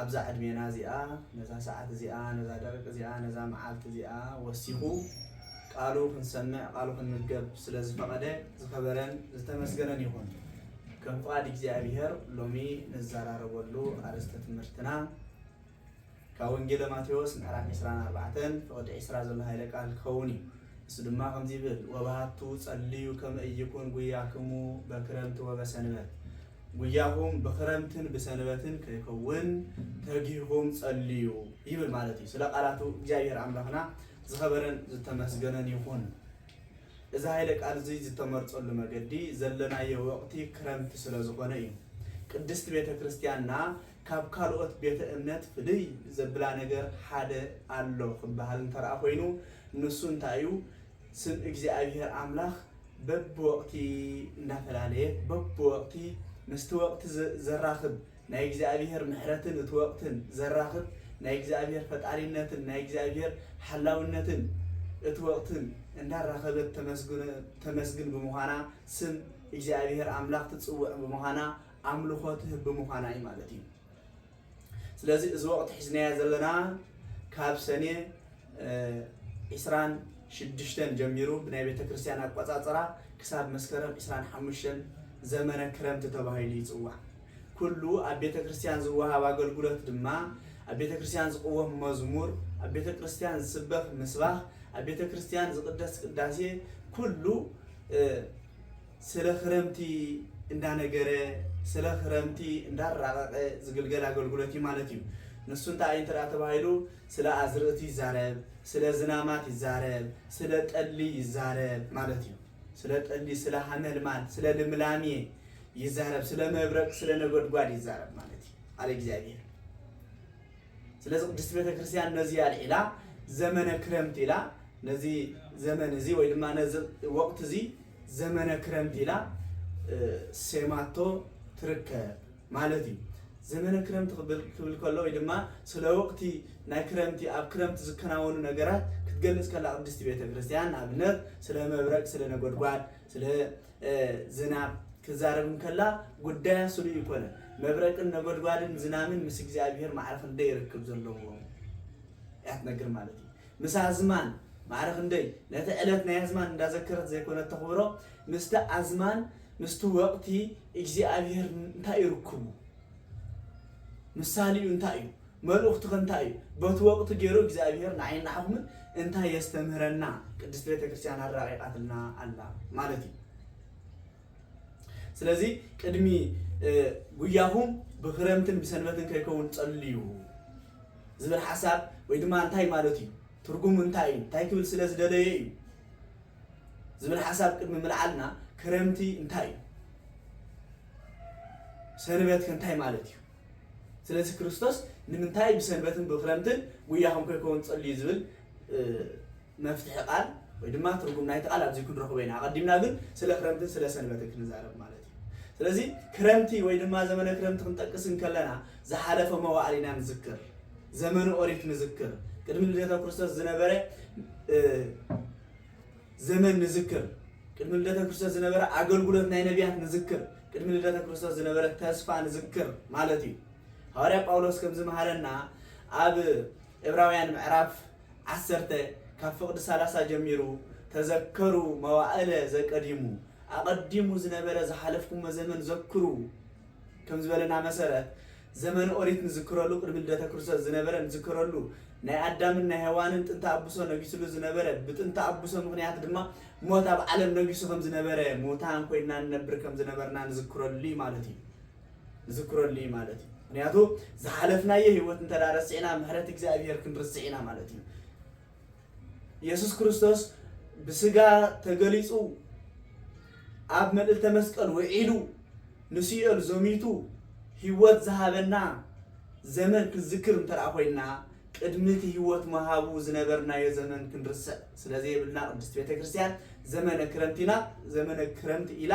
ኣብዛ ዕድሜና እዚኣ ነዛ ሰዓት እዚኣ ነዛ ደቂቅ እዚኣ ነዛ መዓልቲ እዚኣ ወሲኹ ቃሉ ክንሰምዕ ቃሉ ክንምገብ ስለ ዝፈቐደ ዝኸበረን ዝተመስገነን ይኹን። ከም ፍቓድ እግዚኣብሔር ሎሚ ንዘራረበሉ ኣርእስተ ትምህርትና ካብ ወንጌለ ማቴዎስ ምዕራፍ 24 ፍቕዲ 20 ዘሎ ሃይለ ቃል ክኸውን እዩ። እሱ ድማ ከምዚ ይብል ወባሃቱ ጸልዩ ከመ እይኩን ጉያክሙ በክረምቲ ወበሰንበት ጉያኹም ብኽረምትን ብሰንበትን ከይከውን ተጊህኹም ጸልዩ ይብል ማለት እዩ። ስለ ቃላቱ እግዚኣብሔር ኣምላኽና ዝኸበረን ዝተመስገነን ይኹን። እዚ ኃይለ ቃል እዙይ ዝተመርጸሉ መገዲ ዘለናዮ ወቕቲ ክረምቲ ስለ ዝኾነ እዩ። ቅድስት ቤተ ክርስቲያንና ካብ ካልኦት ቤተ እምነት ፍልይ ዘብላ ነገር ሓደ ኣሎ ክበሃል እንተርኣ ኮይኑ ንሱ እንታይ እዩ? ስም እግዚኣብሄር ኣምላኽ በብወቕቲ እንዳፈላለየ በብወቕቲ ምስቲ ወቕቲ ዘራኽብ ናይ እግዚኣብሄር ምሕረትን እቲ ወቕትን ዘራኽብ ናይ እግዚኣብሄር ፈጣሪነትን ናይ እግዚኣብሄር ሓላውነትን እቲ ወቕትን እንዳራኸበት ተመስግን ብምዃና ስም እግዚኣብሄር ኣምላኽ ትጽውዕ ብምዃና ኣምልኾ ትህብ ብምዃና እዩ ማለት እዩ። ስለዚ እዚ ወቕቲ ሒዝናዮ ዘለና ካብ ሰኔ ዕስራን ሽዱሽተን ጀሚሩ ብናይ ቤተ ክርስቲያን ኣቆፃፅራ ክሳብ መስከረም ዕስራን ሓሙሽተን ዘመነ ክረምቲ ተባሂሉ ይፅዋዕ። ኩሉ ኣብ ቤተ ክርስቲያን ዝወሃብ ኣገልግሎት ድማ ኣብ ቤተ ክርስቲያን ዝቕወም መዝሙር፣ ኣብ ቤተ ክርስቲያን ዝስበኽ ምስባኽ፣ ኣብ ቤተ ክርስቲያን ዝቕደስ ቅዳሴ ኩሉ ስለ ክረምቲ እንዳነገረ ስለ ክረምቲ እንዳራቐቐ ዝግልገል ኣገልግሎት እዩ ማለት እዩ። ንሱ እንታይ እዩ እንተድኣ ተባሂሉ ስለ ኣዝርእቲ ይዛረብ፣ ስለ ዝናማት ይዛረብ፣ ስለ ጠሊ ይዛረብ ማለት እዩ። ስለ ጠሊ፣ ስለ ሃመልማል፣ ስለ ልምላሜ ይዛረብ፣ ስለ መብረቅ፣ ስለ ነጎድጓድ ይዛረብ ማለት እዩ ኣለ እግዚኣብሔር። ስለዚ ቅድስት ቤተ ክርስቲያን ነዚ ኣልዒላ ዘመነ ክረምቲ ኢላ ነዚ ዘመን እዚ ወይ ድማ ነዚ ወቕቲ እዚ ዘመነ ክረምቲ ኢላ ሴማቶ ትርከብ ማለት እዩ። ዘመነ ክረምቲ ክብል ከሎ ወይ ድማ ስለ ወቕቲ ናይ ክረምቲ ኣብ ክረምቲ ዝከናወኑ ነገራት ክትገልጽ ከላ ቅድስቲ ቤተ ክርስቲያን ንኣብነት ስለ መብረቅ፣ ስለ ነጎድጓድ፣ ስለ ዝናብ ክዛረብ እንከላ ጉዳያ ስሉ ይኮነ መብረቅን ነጎድጓድን ዝናምን ምስ እግዚኣብሔር ማዕረ ክንደይ ርክብ ዘለዎ እያ ትነግር ማለት እዩ። ምስ ኣዝማን ማዕረ ክንደይ ነቲ ዕለት ናይ ኣዝማን እንዳዘከረት ዘይኮነት ተኽብሮ ምስቲ ኣዝማን ምስቲ ወቕቲ እግዚኣብሄር እንታይ እዩ ርክቡ ምሳሌኡ እንታይ እዩ መልእኽቱኸ እንታይ እዩ በቲ ወቕቲ ገይሩ እግዚኣብሄር ንዓይን ንዓኹምን እንታይ የስተምህረና ቅድስት ቤተክርስቲያን ኣራቂቃትልና ኣላ ማለት እዩ ስለዚ ቅድሚ ጉያኹም ብክረምትን ብሰንበትን ከይከውን ጸልዩ ዝብል ሓሳብ ወይ ድማ እንታይ ማለት እዩ፣ ትርጉሙ እንታይ እዩ፣ እንታይ ክብል ስለ ዝደለየ እዩ ዝብል ሓሳብ ቅድሚ ምልዓልና ክረምቲ እንታይ እዩ? ሰንበት ከ እንታይ ማለት እዩ? ስለዚ ክርስቶስ ንምንታይ ብሰንበትን ብክረምትን ጉያኹም ከይከውን ጸልዩ ዝብል መፍትሒ ቃል ወይ ድማ ትርጉም ናይቲ ቃል ኣብዚ ክንረኽቦ ኢና። ኣቐዲምና ግን ስለ ክረምትን ስለ ሰንበትን ክንዛረብ ማለት እዩ። ስለዚ ክረምቲ ወይ ድማ ዘመነ ክረምቲ ክንጠቅስ እንከለና ዝሓለፈ መዋእል ኢና ንዝክር። ዘመነ ኦሪት ንዝክር። ቅድሚ ልደተ ክርስቶስ ዝነበረ ዘመን ንዝክር። ቅድሚ ልደተ ክርስቶስ ዝነበረ ኣገልግሎት ናይ ነቢያት ንዝክር። ቅድሚ ልደተ ክርስቶስ ዝነበረ ተስፋ ንዝክር ማለት እዩ። ሃዋርያ ጳውሎስ ከም ዝመሃረና ኣብ ዕብራውያን ምዕራፍ ዓሰርተ፣ ካብ ፍቕዲ ሰላሳ ጀሚሩ ተዘከሩ መዋእለ ዘቀዲሙ፣ ኣቐዲሙ ዝነበረ ዝሓለፍኩሞ ዘመን ዘክሩ ከም ዝበለና መሰረት፣ ዘመነ ኦሪት ንዝክረሉ ቅድሚ ልደተ ክርስቶስ ዝነበረ ንዝከረሉ፣ ናይ ኣዳምን ናይ ሄዋንን ጥንተ ኣቡሶ ነጊስሉ ዝነበረ፣ ብጥንተ ኣቡሶ ምኽንያት ድማ ሞት ኣብ ዓለም ነጊሱ ከም ዝነበረ፣ ሙታን ኮይንና ንነብር ከም ዝነበርና ንዝክረሉ እዩ ማለት እዩ። ዝክረሉ እዩ ማለት እዩ ምክንያቱ ዝሓለፍናዮ ህይወት እንተ ረሲዕና ምሕረት እግዚኣብሄር ክንርስዕ ኢና ማለት እዩ ኢየሱስ ክርስቶስ ብስጋ ተገሊጹ ኣብ መልእልተ መስቀል ውዒሉ ንስዮል ዘሚቱ ህይወት ዝሃበና ዘመን ክንዝክር እንተ ኮይንና ቅድሚ እቲ ሕይወት ምሃቡ ዝነበርናዮ ዘመን ክንርስዕ ስለ ዘየብልና ቅድስት ቤተ ክርስቲያን ዘመነ ክረምት ኢና ዘመነ ክረምት ኢላ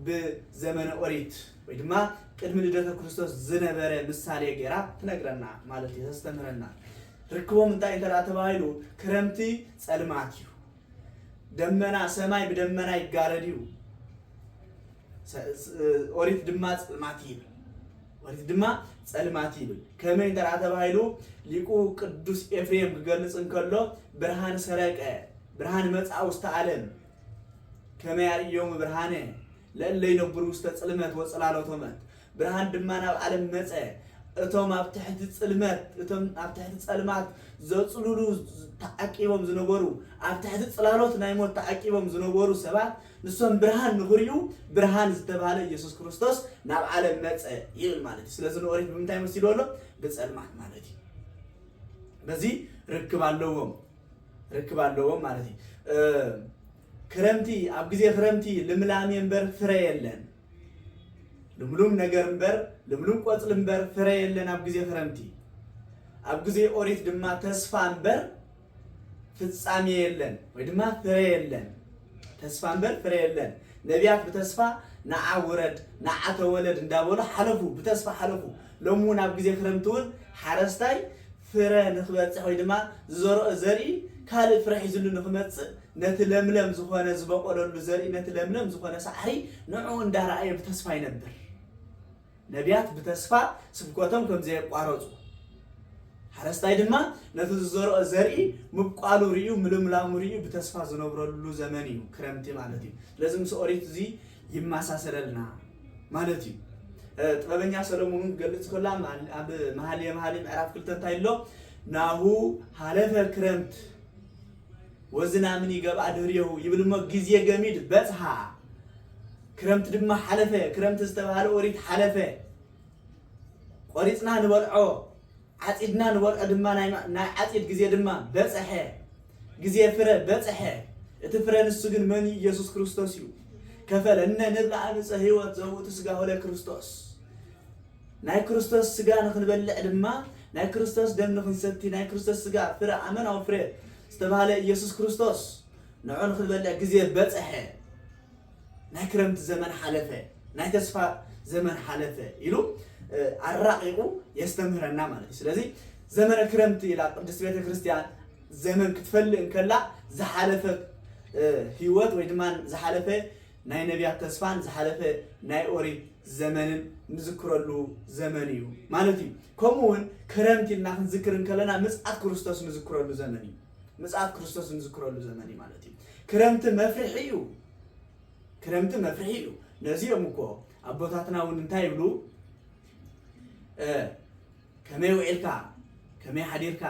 ብዘመነ ኦሪት ወይ ድማ ቅድሚ ልደተ ክርስቶስ ዝነበረ ምሳሌ ገይራ ትነግረና ማለት እዩ ተስተምህረና ርክቦም እንታይ እንተ ተባሂሉ ክረምቲ ጸልማት እዩ ደመና ሰማይ ብደመና ይጋረድ እዩ ኦሪት ድማ ጽልማት ይብል ኦሪት ድማ ጸልማት ይብል ከመይ እንተ ተባሂሉ ሊቁ ቅዱስ ኤፍሬም ክገልጽ እንከሎ ብርሃን ሰረቀ ብርሃን መጽኣ ውስተ ዓለም ከመይ ኣርእዮም ብርሃነ ለእለ ይነብሩ ውስተ ጽልመት ወጽላሎቶመት ብርሃን ድማ ናብ ዓለም መጸ። እቶም ኣብ ትሕቲ ጽልመት፣ እቶም ኣብ ትሕቲ ጸልማት ዘጽልሉ ተዓቂቦም ዝነበሩ፣ ኣብ ትሕቲ ጽላሎት ናይ ሞት ተዓቂቦም ዝነበሩ ሰባት፣ ንሶም ብርሃን ንኽሪኡ፣ ብርሃን ዝተባህለ ኢየሱስ ክርስቶስ ናብ ዓለም መጸ ይብል ማለት እዩ። ስለዚ ንኦሪት ብምንታይ መሲልዎ ኣሎ? ብጸልማት ማለት እዩ። በዚ ርክብ ኣለዎም ርክብ ኣለዎም ማለት እዩ። ክረምቲ ኣብ ግዜ ክረምቲ ልምላሜ እምበር ፍረ የለን። ልምሉም ነገር እምበር ልምሉም ቆጽሊ እምበር ፍረ የለን ኣብ ግዜ ክረምቲ ኣብ ግዜ ኦሪት ድማ ተስፋ እምበር ፍጻሜ የለን ወይ ድማ ፍረ የለን ተስፋ እምበር ፍረ የለን ነቢያት ብተስፋ ንዓ ውረድ ንዓ ተወለድ እንዳበሉ ሓለፉ ብተስፋ ሓለፉ ሎሚ እውን ኣብ ግዜ ክረምቲ እውን ሓረስታይ ፍረ ንክበፅሕ ወይ ድማ ዝዘርኦ ዘርኢ ካልእ ፍረ ሒዝሉ ንክመፅእ ነቲ ለምለም ዝኾነ ዝበቖለሉ ዘርኢ ነቲ ለምለም ዝኾነ ሳዕሪ ንዕኡ እንዳረኣየ ብተስፋ ይነብር። ነብያት ብተስፋ ስብከቶም ከም ዘየቋረጹ፣ ሓረስታይ ድማ ነቲ ዝዘርኦ ዘርኢ ምብቋሉ ርእዩ ምልምላሙ ርእዩ ብተስፋ ዝነብረሉ ዘመን እዩ ክረምቲ ማለት እዩ። ስለዚ ምስ ኦሪት እዚ ይመሳሰለልና ማለት እዩ። ጥበበኛ ሰለሙን እውን ክገልጽ ከሎ ኣብ መሃልየ መሃልይ ምዕራፍ ክልተ እንታይ ኣሎ ናሁ ሃለፈ ክረምት ወዝላምን ይገብኣ ድህሬሁ ይብል እሞ ግዜ ገሚድ በጽሃ ክረምቲ ድማ ሓለፈ ክረምቲ ዝተባህለ ኦሪት ሓለፈ ቆሪጽና ንበልዖ ዓጺድና ንበልዖ ድማ ናይ ዓጺድ ግዜ ድማ በጽሐ ግዜ ፍረ በጽሐ እቲ ፍረ ንሱ ግን መን እዩ ኢየሱስ ክርስቶስ እዩ ከፈለነ ንብላ ዕፀ ህይወት ዘውእቱ ስጋሁ ለክርስቶስ ናይ ክርስቶስ ሥጋ ንኽንበልዕ ድማ ናይ ክርስቶስ ደም ንኽንሰቲ ናይ ክርስቶስ ሥጋ ፍረ ኣመናዊ ፍረ ዝተባህለ ኢየሱስ ክርስቶስ ንዑ ንኽንበልዕ ግዜ በጽሐ ናይ ክረምቲ ዘመን ሓለፈ ናይ ተስፋ ዘመን ሓለፈ ኢሉ ኣራቂቁ የስተምህረና ማለት እዩ ስለዚ ዘመነ ክረምቲ ኢላ ቅድስት ቤተ ክርስቲያን ዘመን ክትፈልእ እንከላ ዝሓለፈ ህይወት ወይ ድማ ዝሓለፈ ናይ ነብያት ተስፋን ዝሓለፈ ናይ ኦሪት ዘመንን ንዝክረሉ ዘመን እዩ ማለት እዩ። ከምኡ ውን ክረምቲ ኢልና ክንዝክር እንከለና ምጽኣት ክርስቶስ ንዝክረሉ ዘመን እዩ። ምጽኣት ክርስቶስ እንዝክረሉ ዘመን እዩ ማለት እዩ። ክረምቲ መፍርሒ እዩ። ክረምቲ መፍርሒ እዩ። ነዚ እዮም እኮ ኣቦታትና ውን እንታይ ይብሉ ከመይ ውዒልካ ከመይ ሓዲርካ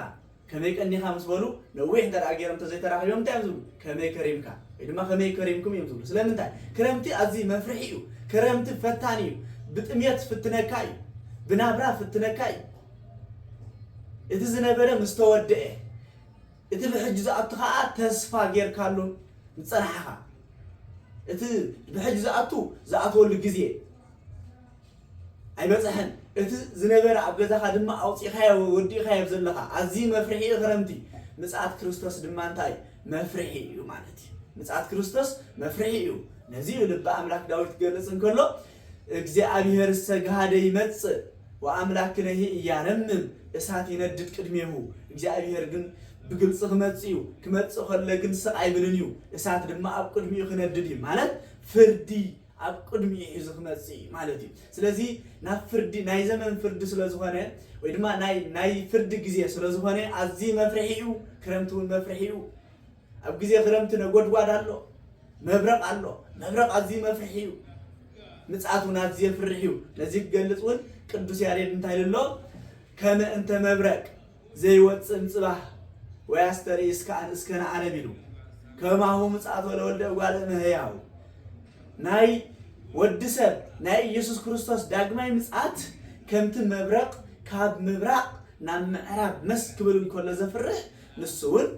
ከመይ ቀኒኻ ምስ በሉ ነዊሕ እንተ ደኣ ገይሮም እንተዘይተራኺቦም እንታይ እዮም ዝብሉ ከመይ ከሪምካ ወይ ድማ ከመይ ከሪምኩም እዮም ዝብሉ ስለምንታይ ክረምቲ ኣዝዩ መፍርሒ እዩ ክረምቲ ፈታኒ እዩ ብጥሜት ፍትነካ እዩ ብናብራ ፍትነካ እዩ እቲ ዝነበረ ምስ ተወድአ እቲ ብሕጂ ዝኣቱ ከዓ ተስፋ ጌርካሉ ዝፀናሕኻ እቲ ብሕጂ ዝኣቱ ዝኣትወሉ ግዜ ኣይበጽሐን እቲ ዝነበረ ኣብ ገዛኻ ድማ ኣውጺኻዮ ወዲእኻዮ ዘለኻ ኣዝዩ መፍርሒ እዩ ክረምቲ ምጽኣት ክርስቶስ ድማ እንታይ እዩ መፍርሒ እዩ ማለት እዩ ምጽኣት ክርስቶስ መፍርሒ እዩ ነዚ እዩ ልቢ ኣምላክ ዳዊት ክገልጽ እንከሎ እግዚኣብሔር ሰግሃደ ይመጽእ ወኣምላክነሂ እያረምም እሳት ይነድድ ቅድሜሁ እግዚኣብሔር ግን ብግልፂ ክመፅእ እዩ ክመፅእ ከሎ ግን ስቕ ኣይብልን እዩ እሳት ድማ ኣብ ቅድሚኡ ክነድድ እዩ ማለት ፍርዲ ኣብ ቅድሚኡ እዩ እዚ ክመጽእ ማለት እዩ ስለዚ ናብ ፍርዲ ናይ ዘመን ፍርዲ ስለ ዝኾነ ወይ ድማ ናይ ናይ ፍርዲ ግዜ ስለ ዝኾነ ኣዝዩ መፍርሒ እዩ ክረምቲ እውን መፍርሒ እዩ ኣብ ግዜ ክረምቲ ነጎድጓድ ኣሎ መብረቕ ኣሎ መብረቕ ኣዝዩ መፍርሒ እዩ ምጽኣት እውን ኣዝዩ የፍርሕ እዩ ነዚ ክገልጽ እውን ቅዱስ ያሬድ እንታይ ኢሉ ኣሎ ከመ እንተ መብረቅ ዘይወጽእን ጽባሕ ወይ ኣስተርኢ እስከኣን እስከ ንዓለም ኢሉ ከማሁ ምጽኣቶ ለወልደ እጓለ እመሕያው ናይ ወዲ ሰብ ናይ ኢየሱስ ክርስቶስ ዳግማይ ምጽኣት ከምቲ መብረቕ ካብ ምብራቕ ናብ ምዕራብ መስ ክብል እንከሎ ዘፍርሕ ንሱ እውን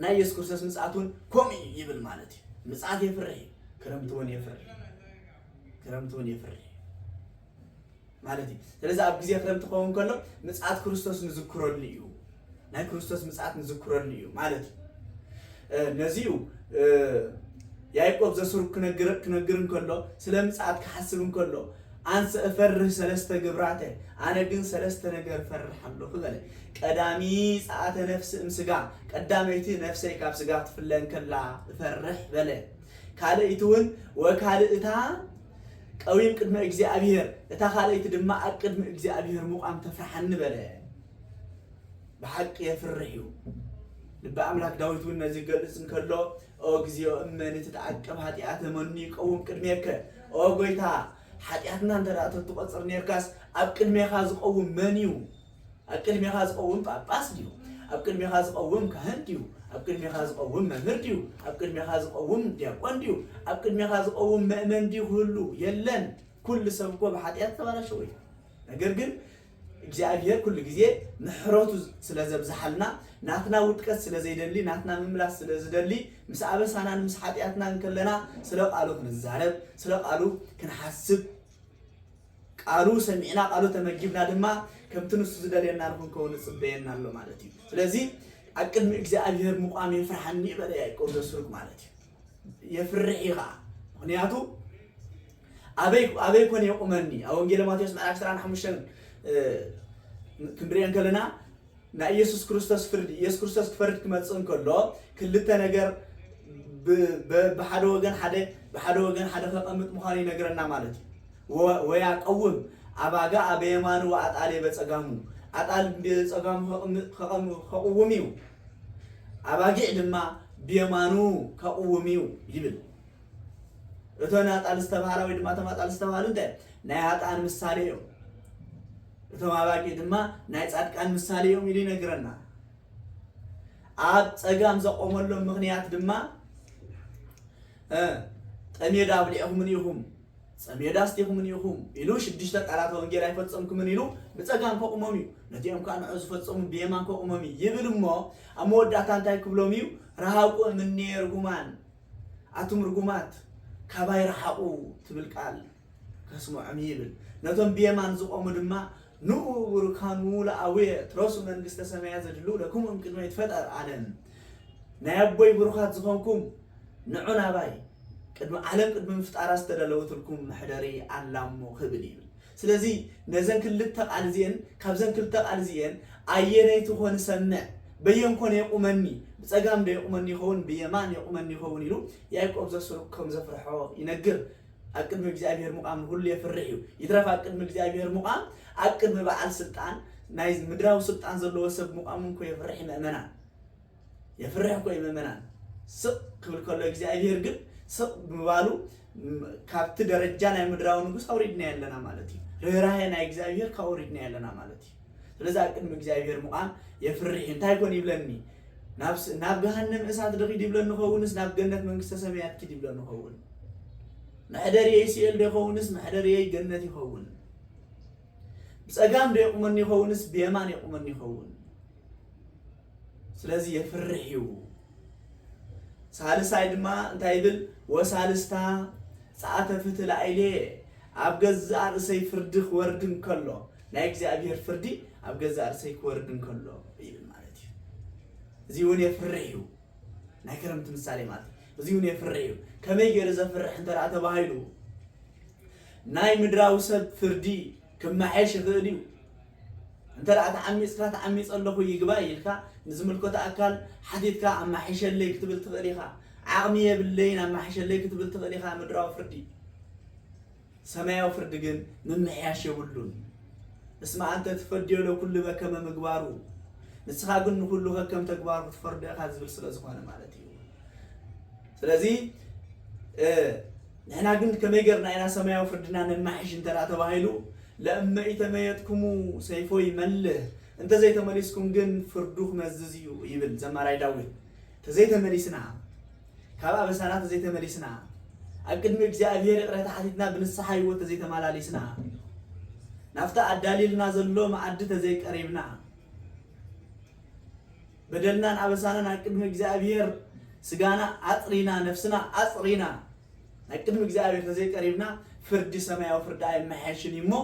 ናይ ኢየሱስ ክርስቶስ ምጽኣት እውን ከምኡ እዩ ይብል ማለት እዩ። ምጽኣት የፍርሕ እዩ። ክረምቲ እውን የፍርሕ ክረምቲ እውን የፍርሕ ማለት እዩ። ስለዚ ኣብ ግዜ ክረምቲ ክኸውን ከሎ ምጽኣት ክርስቶስ ንዝክረሉ እዩ፣ ናይ ክርስቶስ ምጽኣት ንዝክረሉ እዩ ማለት እዩ። ነዚ እዩ ያዕቆብ ዘሱር ክነግር እንከሎ ስለ ምጽኣት ክሓስብ እንከሎ ኣንሰ እፈርህ ሰለስተ ግብራተ ኣነ ግን ሰለስተ ነገር ፈርሕ ኣለኹ በለ። ቀዳሚ ጸኣተ ነፍሲ እም ስጋ ቀዳመይቲ ነፍሰይ ካብ ስጋ ትፍለ እንከላ እፈርሕ በለ። ካልእይቲ እውን ወካልእታ ቀዊም ቅድመ እግዚኣብሄር፣ እታ ካልኣይቲ ድማ ኣብ ቅድሚ እግዚኣብሄር ምቛም ተፍርሓኒ በለ። ብሓቂ የፍርሕ እዩ። ልቢ ኣምላክ ዳዊት እውን ነዚ ክገልጽ እንከሎ ኦ እግዚኦ እመኒ ትትዓቀብ ኃጢኣተ መኑ ይቀውም ቅድሜከ ኦ ጎይታ ሓጢኣትና እንተ ተትቆጽር ነርካስ ኣብ ቅድሜኻ ዝቀውም መን እዩ ኣብ ቅድሜኻ ዝቐውም ጳጳስ ድዩ? ኣብ ቅድሜኻ ዝቐውም ካህን ድዩ? ኣብ ቅድሜኻ ዝቐውም መምህር ድዩ? ኣብ ቅድሜኻ ዝቐውም ዲያቆን ድዩ? ኣብ ቅድሜኻ ዝቐውም መእመን ድዩ ክህሉ? የለን። ኩሉ ሰብ እኮ ብሓጢኣት ተባላሸው እዩ። ነገር ግን እግዚኣብሄር ኩሉ ግዜ ምሕረቱ ስለ ዘብዝሓልና ናትና ውድቀት ስለ ዘይደሊ ናትና ምምላስ ስለ ዝደሊ ምስ ኣበሳናን ምስ ሓጢኣትናን ከለና ስለ ቃሉ ክንዛረብ ስለ ቃሉ ክንሓስብ ቃሉ ሰሚዕና ቃሉ ተመጊብና ድማ ከምቲ ንሱ ዝደልየና ንኽንከውን ይጽበየና ኣሎ ማለት እዩ። ስለዚ ኣብ ቅድሚ እግዚኣብሄር ምቛም የፍርሓኒ በለ ያዕቆብ ዘስሩግ ማለት እዩ። የፍርሕ እዩ ኸዓ ምኽንያቱ ኣበይ ኣበይ ኮን የቑመኒ ኣብ ወንጌል ማቴዎስ ምዕራፍ 25 ክንሪኦ ከለና ናይ ኢየሱስ ክርስቶስ ፍርዲ ኢየሱስ ክርስቶስ ክፈርድ ክመጽእ እንከሎ ክልተ ነገር ብሓደ ወገን ሓደ ብሓደ ወገን ሓደ ከቐምጥ ምዃኑ ይነግረና ማለት እዩ ወያቀውም ኣባጋ ኣበየማኑ ወኣጣሌ በጸጋሙ ኣጣል በጸጋሙ ከቕውም እዩ ኣባጊዕ ድማ ብየማኑ ከቕውም እዩ ይብል እቶን ኣጣል ዝተባሃላ ወይ ድማ እቶም ኣጣል ዝተባሃሉ እንታይ ናይ ሃጣን ምሳሌ እዮም እቶም ኣባጊዕ ድማ ናይ ጻድቃን ምሳሌ እዮም ኢሉ ይነግረና። ኣብ ጸጋም ዘቆመሎም ምኽንያት ድማ ጠሜዳ ኣብሊዕኹምን ኢኹም ጸሜዳ ኣስቲኹምን ኢኹም ኢሉ ሽዱሽተ ቃላተ ወንጌል ኣይፈጸምኩምን ኢሉ ብጸጋም ከቑሞም እዩ ነቲኦም ከዓ ንዑ ዝፈጸሙ ብየማን ከቑሞም እዩ ይብል እሞ ኣብ መወዳእታ እንታይ ክብሎም እዩ ረሃቁ እምኔ ርጉማን ኣቱም ርጉማት ካባይ ረሓቑ ትብል ቃል ከስምዖም ይብል። ነቶም ብየማን ዝቆሙ ድማ ንዑ ቡሩካን ዉኡ ለኣውየ ትረሱ መንግስተ ሰማያት ዘድልው ለክሙ እምቅድመ ይትፈጠር ኣለም ናይ ኣቦይ ቡሩካት ዝኮንኩም ንዑ ናባይ ቅድሚ ዓለም ቅድሚ ምፍጣራ ዝተደለወትልኩም መሕደሪ ኣላሞ ክብል ይብል። ስለዚ ነዘን ክልተ ቃል እዚኤን ካብዘን ክልተ ቃል እዚኤን ኣየነይቲ ኮን እሰምዕ በየን ኮን የቁመኒ ብጸጋም ዶ የቁመኒ ይከውን ብየማን የቁመኒ ይከውን ኢሉ ያእቆብ ዘስሩግ ከም ዘፍርሖ ይነግር። ኣብ ቅድሚ እግዚኣብሔር ምቛም ንኹሉ የፍርሕ እዩ። ይትረፍ ኣብ ቅድሚ እግዚኣብሔር ምቛም ኣብ ቅድሚ በዓል ስልጣን ናይ ምድራዊ ስልጣን ዘለዎ ሰብ ምቛም እንኮ የፍርሕ እዩ ምእመናን የፍርሕ እኮ እዩ ምእመናን። ስቕ ክብል ከሎ እግዚኣብሔር ግን ስቕ ብምባሉ ካብቲ ደረጃ ናይ ምድራዊ ንጉስ ኣውሪድና ኣለና ማለት እዩ። ርኅራሄ ናይ እግዚኣብሔር ካብኡ ኣውሪድና ኣለና ማለት እዩ። ስለዚ ኣብ ቅድሚ እግዚኣብሔር ምቛም የፍርሕ እንታይ ኮን ይብለኒ ናብ ገሃነም እሳት ድኺድ ይብለኒ ኸውንስ ናብ ገነት መንግስተ ሰማያት ኪድ ይብለኒ ኸውን መሕደርየይ ሲኤል ዶ ይኸውንስ መሕደርየይ ገነት ይኸውን ብፀጋም ዶ የቁመኒ ይኸውንስ ብየማን የቁመኒ ይኸውን ስለዚ የፍርሕ እዩ ሳልሳይ ድማ እንታይ ይብል ወሳልስታ ፀኣተ ፍትላኢሌ ኣብ ገዛእ ርእሰይ ፍርዲ ክወርድ እንከሎ ናይ እግዚኣብሔር ፍርዲ ኣብ ገዛእ ርእሰይ ክወርድ እንከሎ ይብል ማለት እዩ እዚ እውን የፍርሕ እዩ ናይ ክረምቲ ምሳሌ ማለት እዩ እዚ እውን የፍርሕ እዩ ከመይ ገይሩ ዘፍርሕ እንተ ደኣ ተባሂሉ ናይ ምድራዊ ሰብ ፍርዲ ክመሓየሽ ይኽእል እዩ እንተ ደኣ ተዓሚፅካ ተዓሚፀ ኣለኹ ይግባይ ኢልካ ንዝምልከቶ ኣካል ሓቲትካ ኣማሓይሸለይ ክትብል ትኽእል ኢኻ ዓቕሚ የብለይን ኣማሓይሸለይ ክትብል ትኽእል ኢኻ ምድራዊ ፍርዲ ሰማያዊ ፍርዲ ግን ምምሕያሽ የብሉን። እስመ አንተ ትፈድዮ ለኩሉ በከመ ምግባሩ፣ ንስኻ ግን ንኹሉ ከከም ተግባሩ ክትፈርዶ ኢኻ ዝብል ስለ ዝኾነ ማለት እዩ። ስለዚ ንሕና ግን ከመይ ገርና ኢና ሰማያዊ ፍርድና ነማሕሽ እንተ ተባሂሉ ለእመ ኢተመየጥኩሙ ሰይፎ ይመልህ እንተ ዘይተመሊስኩም ግን ፍርዱ ክመዝዝ እዩ ይብል ዘማራይ ዳዊት ተዘይተመሊስና ካብ ኣበሳና ተዘይተመሊስና፣ ኣብ ቅድሚ እግዚኣብሄር ይቕሬታ ሓቲትና ብንስሓ ህይወት ተዘይተማላሊስና፣ ናብቲ ኣዳልዩልና ዘሎ መኣዲ ተዘይቀሪብና፣ በደልናን ኣበሳናን ኣብ ቅድሚ እግዚኣብሄር ስጋና ኣጽሪና ነፍስና ኣጽሪና ኣብ ቅድሚ እግዚኣብሄር ተዘይቀሪብና ፍርዲ ሰማያዊ ፍርዲ ኣይመሓየሽን እዩ እሞ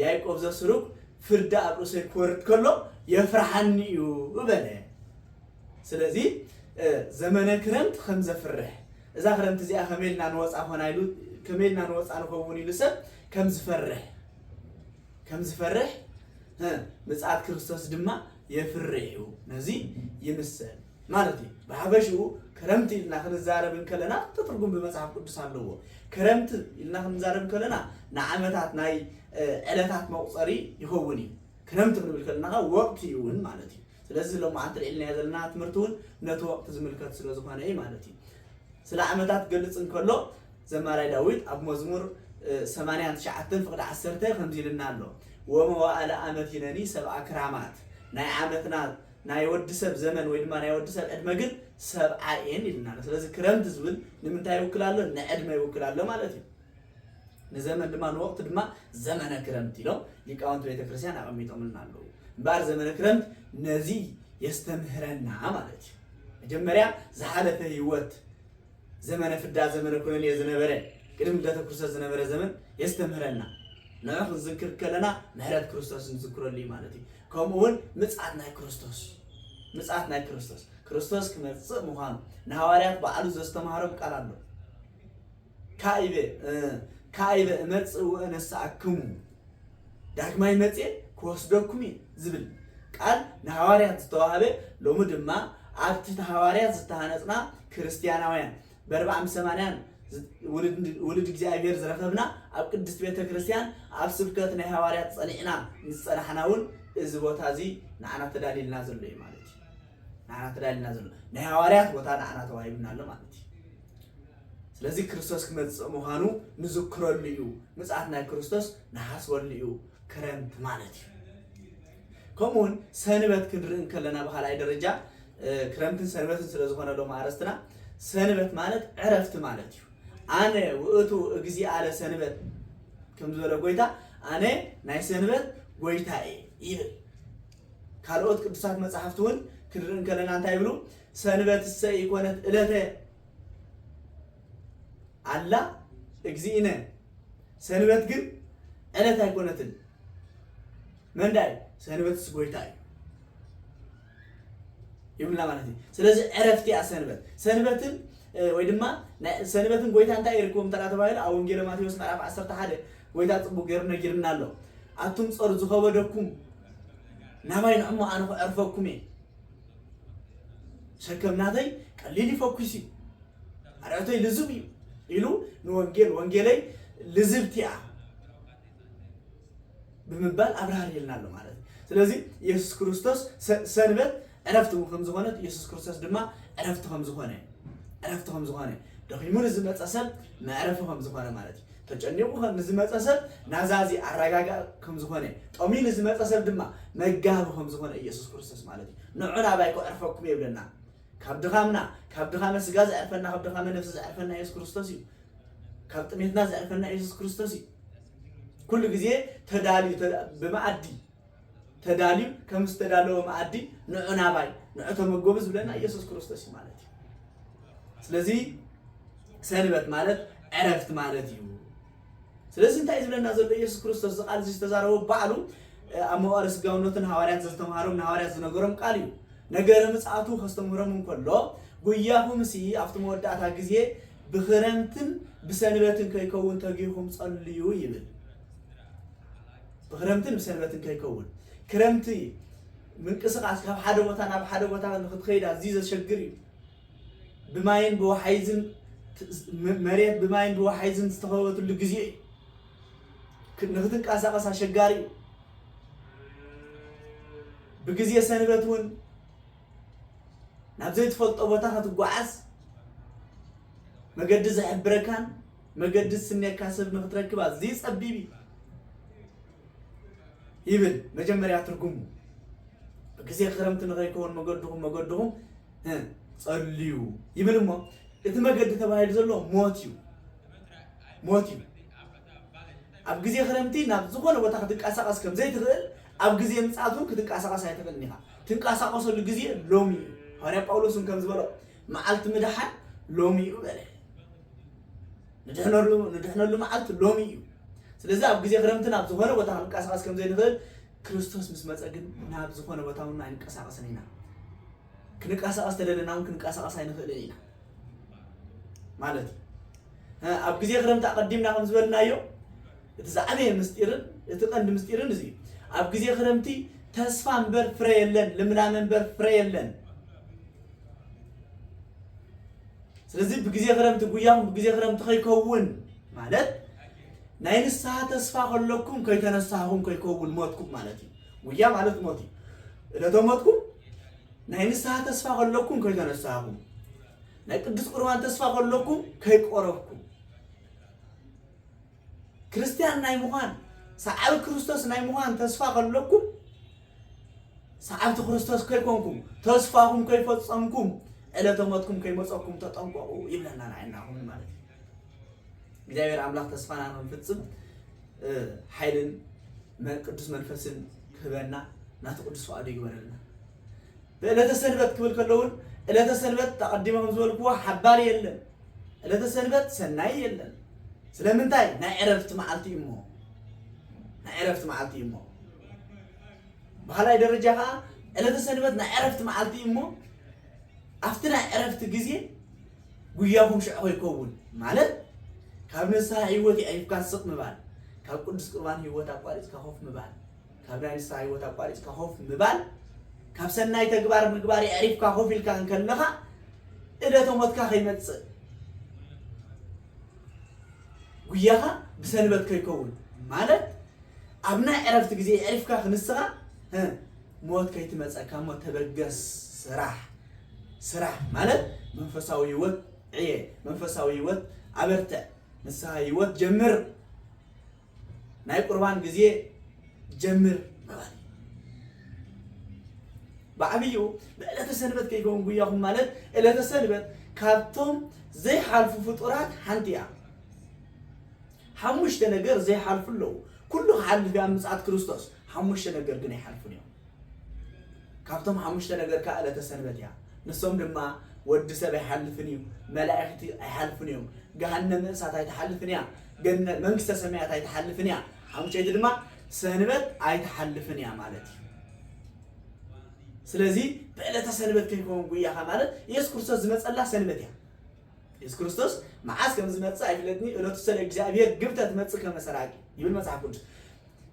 ያዕቆብ ዘስሩግ ፍርዲ ኣብ ርእሰይ ክወርድ ከሎ የፍርሓኒ እዩ በለ። ስለዚ ዘመነ ክረምት ከም ዘፍርሕ እዛ ክረምቲ እዚኣ ከመይ ኢልና ንወፃ ኮና ኢሉ ከመይ ኢልና ንወፃ ንኸውን ኢሉ ሰብ ከም ዝፈርሕ ከም ዝፈርሕ ምጽኣት ክርስቶስ ድማ የፍርሕ እዩ ነዚ ይምሰል ማለት እዩ ብሓፈሽኡ ክረምቲ ኢልና ክንዛረብ እንከለና ክልተ ትርጉም ብመጽሓፍ ቅዱስ ኣለዎ ክረምቲ ኢልና ክንዛረብ እንከለና ንዓመታት ናይ ዕለታት መቁፀሪ ይኸውን እዩ ክረምቲ ክንብል ከለና ወቅቲ እውን ማለት እዩ ስለዚ ሎማዓንቲ ኣልዒልናዮ ዘለና ትምህርቲ እውን ነቲ ወቕቲ ዝምልከት ስለ ዝኾነ እዩ ማለት እዩ። ስለ ዓመታት ክገልጽ እንከሎ ዘማራይ ዳዊት ኣብ መዝሙር ሰማንያን ትሽዓተን ፍቕዲ ዓሰርተ ከምዚ ኢሉና ኣሎ ወመዋእለ ኣመት ይነኒ ሰብዓ ክራማት ናይ ዓመትና ናይ ወዲ ሰብ ዘመን ወይ ድማ ናይ ወዲ ሰብ ዕድመ ግን ሰብዓ እየን ኢሉና ኣሎ። ስለዚ ክረምቲ ዝብል ንምንታይ ይውክል ኣሎ? ንዕድመ ይውክል ኣሎ ማለት እዩ። ንዘመን ድማ ንወቕቲ ድማ ዘመነ ክረምት ኢሎም ሊቃውንቲ ቤተ ክርስቲያን ኣቐሚጦምልና ኣለዉ። እምበኣር ዘመነ ክረምት ነዚ የስተምህረና ማለት እዩ። መጀመርያ ዝሓለፈ ህይወት ዘመነ ፍዳ ዘመነ ኩነኔ ዝነበረ ቅድሚ ልደተ ክርስቶስ ዝነበረ ዘመን የስተምህረና ንዑ ክንዝክር ከለና ምሕረት ክርስቶስ ንዝክረሉ እዩ ማለት እዩ ከምኡ እውን ምፅኣት ናይ ክርስቶስ ምፅኣት ናይ ክርስቶስ ክርስቶስ ክመፅእ ምዃኑ ንሃዋርያት በዓሉ ዘስተማሃሮም ቃል ኣሎ ካኢበ ካኢበ እመጽእ ወእነስኣክሙ፣ ዳግማይ መጺኤ ክወስደኩም እየ ዝብል ቃል ንሃዋርያት ዝተዋህበ፣ ሎሚ ድማ ኣብቲ እቲ ሃዋርያት ዝተሃነጽና ክርስትያናውያን በርብዓም ሰማንያን ውሉድ እግዚኣብሔር ዝረኸብና ኣብ ቅድስት ቤተ ክርስቲያን ኣብ ስብከት ናይ ሃዋርያት ጸኒዕና ምስ ጸናሕና እውን እዚ ቦታ እዚ ንዓና ተዳልልና ዘሎ እዩ ማለት እዩ። ንዓና ተዳልልና ዘሎ ናይ ሃዋርያት ቦታ ንዓና ተዋሂብና ኣሎ ማለት እዩ። ስለዚ ክርስቶስ ክመጽእ ምዃኑ ንዝክረሉ እዩ። ምጽኣት ናይ ክርስቶስ ንሓስበሉ እዩ፣ ክረምቲ ማለት እዩ። ከምኡውን ሰንበት ክንርኢ እንከለና ብካልኣይ ደረጃ ክረምትን ሰንበትን ስለ ዝኾነ ሎም ኣረስትና ሰንበት ማለት ዕረፍቲ ማለት እዩ ኣነ ውእቱ እግዚ ኣለ ሰንበት ከም ዝበለ ጎይታ ኣነ ናይ ሰንበት ጎይታ እየ ይብል ካልኦት ቅዱሳት መፅሓፍቲ እውን ክንርኢ እንከለና እንታይ ይብሉ ሰንበት እሰ ይኮነት እለተ ኣላ እግዚእነ ሰንበት ግን ዕለት ኣይኮነትን መንዳይ ሰንበትስ ጎይታ እዩ ይብላ ማለት እዩ ስለዚ ዕረፍቲ እያ ሰንበት ሰንበትን ወይ ድማ ሰንበትን ጎይታ እንታይ ይርከቦም እንተ ተባሂሉ ኣብ ወንጌለ ማቴዎስ ምዕራፍ 11 ጎይታ ፅቡቅ ገይሩ ነጊርና ኣሎ ኣቱም ፀሩ ዝኸበደኩም ናባይ ንዕሞ ኣነ ክዕርፈኩም እየ ሸከም ናተይ ቀሊል እዩ ፈኲስ እዩ ኣርዕቶይ ልዙብ እዩ ኢሉ ንወንጌል ወንጌለይ ልዝብቲ እያ ብምባል ኣብራህሪልና ኣሎ ማለት እዩ ስለዚ ኢየሱስ ክርስቶስ ሰንበት ዕረፍቲ ከም ዝኾነት ኢየሱስ ክርስቶስ ድማ ዕረፍቲ ከም ዝኾነ ዕረፍቲ ከም ዝኾነ ደኺሙ ንዝመፀ ሰብ መዕረፊ ከም ዝኾነ ማለት እዩ ተጨኒቑ ከም ንዝመጸ ሰብ ናዛዚ፣ ኣረጋጋኢ፣ ከም ዝኾነ፣ ጠምዩ ንዝመጸ ሰብ ድማ መጋቢ ከም ዝኾነ ኢየሱስ ክርስቶስ ማለት እዩ። ንዑ ናባይ ከዕርፈኩም እየ ይብለና። ካብ ድኻምና፣ ካብ ድኻመ ስጋ ዘዕርፈና፣ ካብ ድኻመ ነፍሲ ዘዕርፈና ኢየሱስ ክርስቶስ እዩ። ካብ ጥሜትና ዘዕርፈና ኢየሱስ ክርስቶስ እዩ። ኩሉ ግዜ ተዳልዩ ብመኣዲ ተዳልዩ ከም ዝተዳለወ መኣዲ ንዑ ናባይ ንዑ ተመገቡ ዝብለና ኢየሱስ ክርስቶስ እዩ ማለት እዩ። ስለዚ ሰንበት ማለት ዕረፍቲ ማለት እዩ። ስለዚ እንታይ ዝብለና ዘሎ ኢየሱስ ክርስቶስ እዚ ቃል እዚ ዝተዛረቦ ባዕሉ ኣብ መዋዕለ ስጋውነቱን ሃዋርያት ዘዝተምሃሮም ንሃዋርያት ዝነገሮም ቃል እዩ። ነገረ ምጽኣቱ ከስተምህሮም እንከሎ ጉያኹምሲ ኣብቲ መወዳእታ ግዜ ብኽረምትን ብሰንበትን ከይከውን ተጊኹም ጸልዩ ይብል። ብክረምትን ብሰንበትን ከይከውን ክረምቲ ምንቅስቃስ ካብ ሓደ ቦታ ናብ ሓደ ቦታ ንክትኸይድ ኣዝዩ ዘሸግር እዩ ብማይን ብወሓይዝን መሬት ብማይን ብወሓይዝን ዝተኸበበትሉ ግዜ እዩ ንክትንቀሳቀስ ኣሸጋሪ እዩ ብግዜ ሰንበት እውን ናብ ዘይትፈልጦ ቦታ ከትጓዓዝ መገዲ ዘሕብረካን መገዲ ዝስነየካ ሰብ ንክትረክብ ኣዝዩ ጸቢብ እዩ ይብል መጀመርያ ትርጉሙ ግዜ ክረምቲ ንኸይከውን መገድኹም መገድኹም ጸልዩ ይብል እሞ እቲ መገዲ ተባሂሉ ዘሎ ሞት እዩ ሞት እዩ ኣብ ግዜ ክረምቲ ናብ ዝኾነ ቦታ ክትንቀሳቐስ ከም ዘይትኽእል ኣብ ግዜ ምጽኣት እውን ክትንቀሳቐስ ኣይትኽእልን ኢኻ ትንቀሳቐሰሉ ግዜ ሎሚ እዩ ሃዋርያ ጳውሎስ እውን ከም ዝበሎ መዓልቲ ምድሓን ሎሚ እዩ በለ። ንድሕነሉ ንድሕነሉ መዓልቲ ሎሚ እዩ። ስለዚ ኣብ ግዜ ክረምቲ ናብ ዝኾነ ቦታ ክንቀሳቐስ ከም ዘይንኽእል ክርስቶስ ምስ መፀ ግን ናብ ዝኾነ ቦታ እውን ኣይንቀሳቐስን ኢና። ክንቀሳቐስ ተደለና እውን ክንቀሳቐስ ኣይንኽእልን ኢና ማለት እዩ። ኣብ ግዜ ክረምቲ ኣቐዲምና ከም ዝበልናዮ እቲ ዝዓበየ ምሥጢርን እቲ ቀንዲ ምሥጢርን እዚ እዩ። ኣብ ግዜ ክረምቲ ተስፋ እምበር ፍረ የለን፣ ልምላመ እምበር ፍረ የለን። ስለዚ ብግዜ ክረምቲ ጉያኹም ብግዜ ክረምቲ ከይከውን ማለት ናይ ንስሓ ተስፋ ከለኩም ከይተነሳኹም ከይከውን ሞትኩም ማለት እዩ። ጉያ ማለት ሞት እዩ። እለተ ሞትኩም ናይ ንስሓ ተስፋ ከለኩም ከይተነሳኹም ናይ ቅዱስ ቁርባን ተስፋ ከለኩም ከይቆረብኩም ክርስትያን ናይ ምዃን ሰዓቢ ክርስቶስ ናይ ምዃን ተስፋ ከለኩም ሰዓብቲ ክርስቶስ ከይኮንኩም ተስፋኹም ከይፈጸምኩም ዕለተ ሞትኩም ከይመጸኩም ተጠንቀቑ ይብለና ንዓይና ኹን ማለት እዩ እግዚኣብሔር ኣምላኽ ተስፋና ክንፍጽም ሓይልን ቅዱስ መንፈስን ክህበና ናቲ ቅዱስ ፍቃዱ ይግበረልና በእለተ ሰንበት ክብል ከለውን እለተ ሰንበት ኣቐዲመ ከም ዝበልክዎ ሓባሪ የለን እለተ ሰንበት ሰናይ የለን ስለምንታይ ናይ ዕረፍቲ መዓልቲ እዩ እሞ ናይ ዕረፍቲ መዓልቲ እዩ እሞ ብካልኣይ ደረጃ ከዓ ዕለተ ሰንበት ናይ ዕረፍቲ መዓልቲ እዩ እሞ ኣብቲ ናይ ዕረፍቲ ግዜ ጉያኹም ሽዑ ከይከውን ማለት ካብ ንስሓ ህይወት ይኣይፍካ ስቕ ምባል ካብ ቅዱስ ቁርባን ህይወት ኣቋሪፅካ ኮፍ ምባል ካብ ናይ ንስሓ ህይወት ኣቋሪጽካ ኮፍ ምባል ካብ ሰናይ ተግባር ምግባር የዕሪፍካ ኮፍ ኢልካ እንከለኻ እደተ ሞትካ ከይመጽእ ጉያኻ ብሰንበት ከይከውን ማለት ኣብ ናይ ዕረፍቲ ግዜ የዕሪፍካ ክንስኻ ሞት ከይትመጸካ እሞ ተበገስ ስራሕ ስራሕ ማለት መንፈሳዊ ህይወት ዕየ መንፈሳዊ ህይወት ኣበርትዕ ንስሓ ህይወት ጀምር ናይ ቁርባን ግዜ ጀምር ምባል እዩ። ብዓብይኡ ብዕለተ ሰንበት ከይከውን ጉያኹም ማለት ዕለተ ሰንበት ካብቶም ዘይሓልፉ ፍጡራት ሓንቲ እያ። ሓሙሽተ ነገር ዘይሓልፉ ኣለዉ። ኩሉ ክሓልፍ እያ ምጽኣት ክርስቶስ፣ ሓሙሽተ ነገር ግን ኣይሓልፉን እዮም። ካብቶም ሓሙሽተ ነገር ከዓ ዕለተ ሰንበት እያ። ንሶም ድማ ወዲ ሰብ ኣይሓልፍን እዩ፣ መላእኽቲ ኣይሓልፉን እዮም፣ ገሃነመ እሳት ኣይትሓልፍን እያ፣ መንግስተ ሰማያት ኣይትሓልፍን እያ፣ ሓሙሸይቲ ድማ ሰንበት ኣይትሓልፍን እያ ማለት እዩ። ስለዚ ብዕለተ ሰንበት ከይከውን ጉያኻ ማለት ኢየሱስ ክርስቶስ ዝመፀላ ሰንበት እያ። ኢየሱስ ክርስቶስ መዓዝ ከም ዝመፅእ ኣይፍለጥኒ እለቱ ሰለ እግዚኣብሔር ግብተ ትመፅእ ከመሰራቂ ይብል መጽሓፍ ቅዱስ።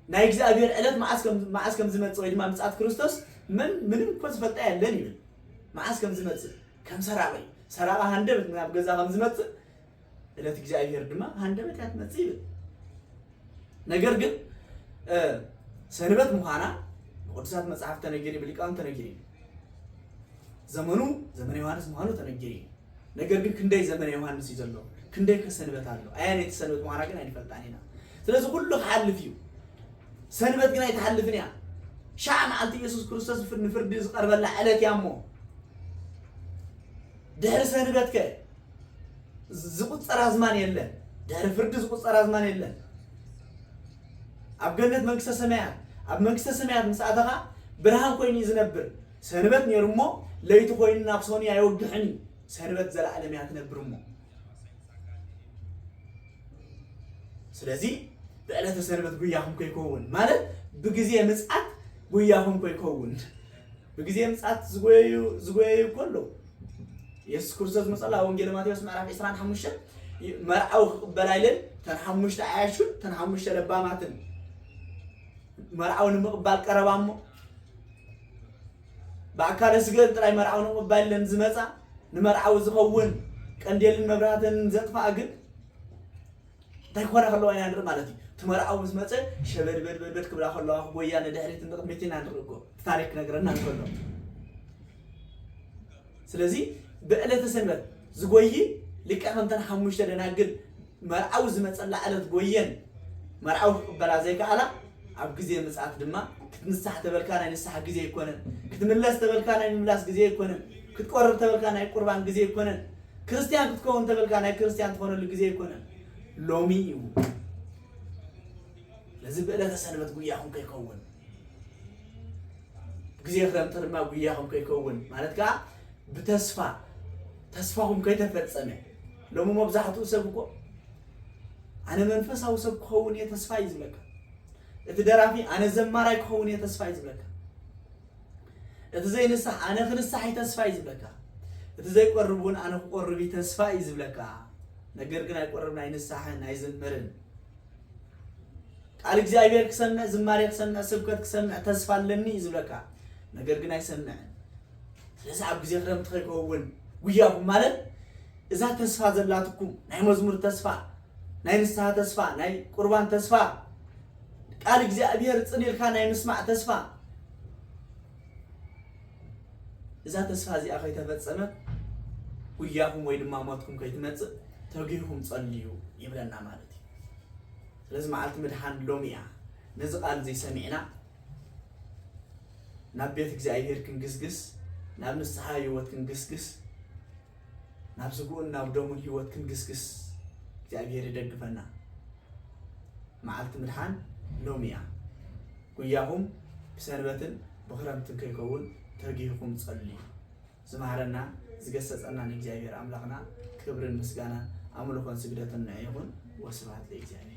ናይ እግዚኣብሔር ዕለት መዓስ ከም መዓስ ከም ዝመጽእ ወይ ድማ ምጽኣት ክርስቶስ መን ምንም እኮ ዝፈልጣ የለን ይብል መዓስ ከም ዝመጽእ ከም ሰራቂ ሰራቂ ሃንደበት ናብ ገዛ ከም ዝመጽእ ዕለት እግዚኣብሔር ድማ ሃንደበት እያ ትመጽእ ይብል ነገር ግን እ፣ ሰንበት ምዃና ብቅዱሳት መጽሓፍ ተነጊሩ ብሊቃውንት ተነጊሩ እዩ ዘመኑ ዘመነ ዮሐንስ ምዃኑ ተነጊሩ እዩ ነገር ግን ክንደይ ዘመነ ዮሃንስ እዩ ዘሎ ክንደይ ከሰንበት ኣሎ ኣየነይቲ ሰንበት ምዃና ግን ኣይንፈልጣን ኢና ስለዚ ኩሉ ክሓልፍ እዩ ሰንበት ግን ኣይትሓልፍን እያ ሻዕ መዓልቲ ኢየሱስ ክርስቶስ ንፍርዲ ዝቐርበላ ዕለት እያ እሞ ድሕሪ ሰንበት ከ ዝቁፀር ኣዝማን የለን ድሕሪ ፍርዲ ዝቁፀር ኣዝማን የለን ኣብ ገነት መንግስተ ሰማያት ኣብ መንግስተ ሰማያት ምስ ኣተኻ ብርሃን ኮይኑ እዩ ዝነብር ሰንበት ኔሩ እሞ ለይቲ ኮይኑ ናብ ሶኒ ኣይወግሕን እዩ ሰንበት ዘላኣለም እያ ትነብር እሞ ስለዚ ብዕለተ ሰንበት ጉያኹም ከይከውን ማለት ብግዜ ምፅኣት ጉያኹም ከይከውን ብግዜ ምፅኣት ዝጎየዩ ዝጎየዩ እኮ ኣለዉ የሱስ ክርስቶስ መፀላ ወንጌል ማቴዎስ ምዕራፍ 25 መርዓዊ ክቕበላ ኢለን ተን ሓሙሽተ ዓያሹን ተን ሓሙሽተ ለባማትን መርዓዊ ንምቕባል ቀረባ እሞ ብኣካለ ስገን ጥራይ መርዓዊ ንምቕባል ኢለን ዝመጻ ንመርዓዊ ዝኸውን ቀንዴልን መብራህትን ዘጥፍኣ ግን እንታይ ክኾና ከለዋ ኢና ንርኢ ማለት እዩ እቲ መርዓዊ ምስ መፀ ሸበድበድበድበድ ክብላ ከለዋ ክጎያ ንድሕሪት ንቕድሚት ኢና ንርኢ እኮ እቲ ታሪክ ክነግረና እንከሎ ስለዚ ብዕለተ ሰንበት ዝጎይ ልክዕ ከምተን ሓሙሽተ ደናግል መርዓዊ ዝመጸላ ዕለት ጎየን መርዓዊ ክቅበላ ዘይከኣላ ኣብ ግዜ ምጽኣት ድማ ክትንሳሕ ተበልካ ናይ ንስሓ ግዜ ኣይኮነን ክትምለስ ተበልካ ናይ ምምላስ ግዜ ኣይኮነን ክትቆርብ ተበልካ ናይ ቁርባን ግዜ ኣይኮነን ክርስትያን ክትከውን ተበልካ ናይ ክርስትያን ትኾነሉ ግዜ ኣይኮነን ሎሚ እዩ ስለዚ ብዕለተ ሰንበት ጉያኹም ከይከውን ግዜ ክረምቲ ድማ ጉያኹም ከይከውን ማለት ከዓ ብተስፋ ተስፋኹም ከይተፈጸመ ሎሚ መብዛሕትኡ ሰብ እኮ ኣነ መንፈሳዊ ሰብ ክኸውን እየ ተስፋ እዩ ዝብለካ። እቲ ደራፊ ኣነ ዘማራይ ክኸውን እየ ተስፋ እዩ ዝብለካ። እቲ ዘይንሳሕ ኣነ ክንሳሕ እዩ ተስፋ እዩ ዝብለካ። እቲ ዘይቆርብ እውን ኣነ ክቆርብ እዩ ተስፋ እዩ ዝብለካ። ነገር ግን ኣይቆርብን፣ ኣይንሳሕን፣ ኣይዝምርን። ቃል እግዚኣብሔር ክሰምዕ፣ ዝማሬ ክሰምዕ፣ ስብከት ክሰምዕ ተስፋ ኣለኒ እዩ ዝብለካ። ነገር ግን ኣይሰምዕን። ስለዚ ኣብ ግዜ ክረምቲ ከይከውን ጉያኩም ማለት እዛ ተስፋ ዘላትኩም ናይ መዝሙር ተስፋ ናይ ንስሓ ተስፋ ናይ ቁርባን ተስፋ ቃል እግዚኣብሔር ፅን ኢልካ ናይ ምስማዕ ተስፋ እዛ ተስፋ እዚኣ ከይተፈፀመ ጉያኹም ወይ ድማ ሞትኩም ከይትመፅእ ተጊኹም ፀልዩ ይብለና ማለት እዩ ስለዚ መዓልቲ ምድሓን ሎሚ እያ ነዚ ቃል እዚ ሰሚዕና ናብ ቤት እግዚኣብሔር ክንግስግስ ናብ ንስሓ ህይወት ክንግስግስ ናብ ስግኡን ናብ ደሙን ህይወት ክንግስግስ እግዚኣብሔር ይደግፈና መዓልቲ ምድሓን ሎሚ እያ ጉያኹም ብሰንበትን ብክረምትን ከይከውን ተጊህኹም ጸልዩ ዝመሃረና ዝገሰጸና ንእግዚኣብሔር ኣምላኽና ክብርን ምስጋናን ኣምልኾን ስግደትን ንዕ ይኹን ወስብሃት ለእግዚኣብሔር